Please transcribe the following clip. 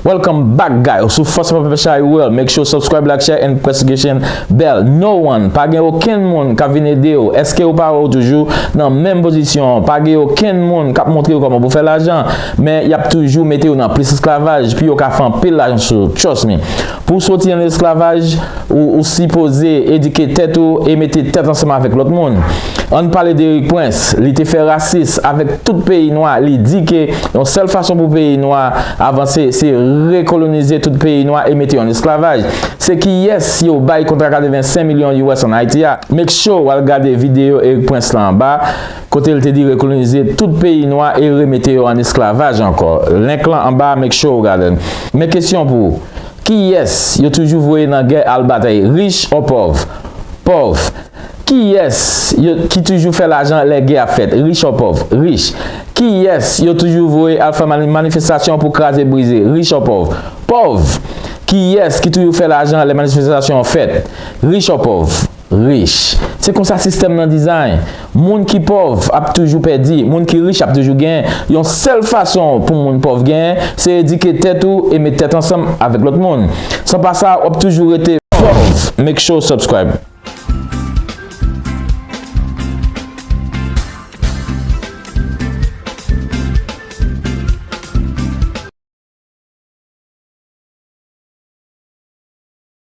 Welcome back guy ou sou fòs pèpè chay ou el make sure subscribe like share and press notification bell no one pa gen oken moun ka vin ede ou eske ou pa wè ou toujou nan menm pozisyon pa gen oken moun kap montre ou koman pou fè lajan men yap toujou mete ou nan plis esklavaj pi yo ka fè anpil lajan sou trust me Pou w soti nan lesklavaj, ou sipoze edike tèt ou e mete tèt ansanm avèk lòt moun. An n pale de Erik Prince, li te fè rasis avèk tout peyi nwa, li di ke yon sèl fason pou peyi nwa avanse se rekolonize tout peyi nwa e mete yo an esklavaj. Se kiyès yo bay kontra 85 milyon us an Ayiti a? Make sure w al gade videyo Erik Prince lan anba. kote l te di rekolonize tout peyi nwa e remete yo an esklavaj ankò, link lan anba make sure ou gade l. Men kesyon pou ou, kiyès yo toujou voye nan gè al batay rich or pòv? Pòv. Kiyès yo ki toujou fè lajan lè gè ap fèt, rich or pòv? Rich. Kiyès yo toujou voye al fè manifestasyon pou kraze brize, rich or pòv? Pòv. Kiyès ki toujou fè lajan lè manifestasyon an fèt, rich or pòv? Rich. Se konsa sistèm nan design. Moun ki pòv ap toujou pèdi, moun ki rich ap toujou genyen. Yon sèl fason pou moun pòv genyen, se edike tèt ou e met tèt ansanm avèk lòt moun. San pa sa, wap toujou rete pòv. Make sure w subscribe.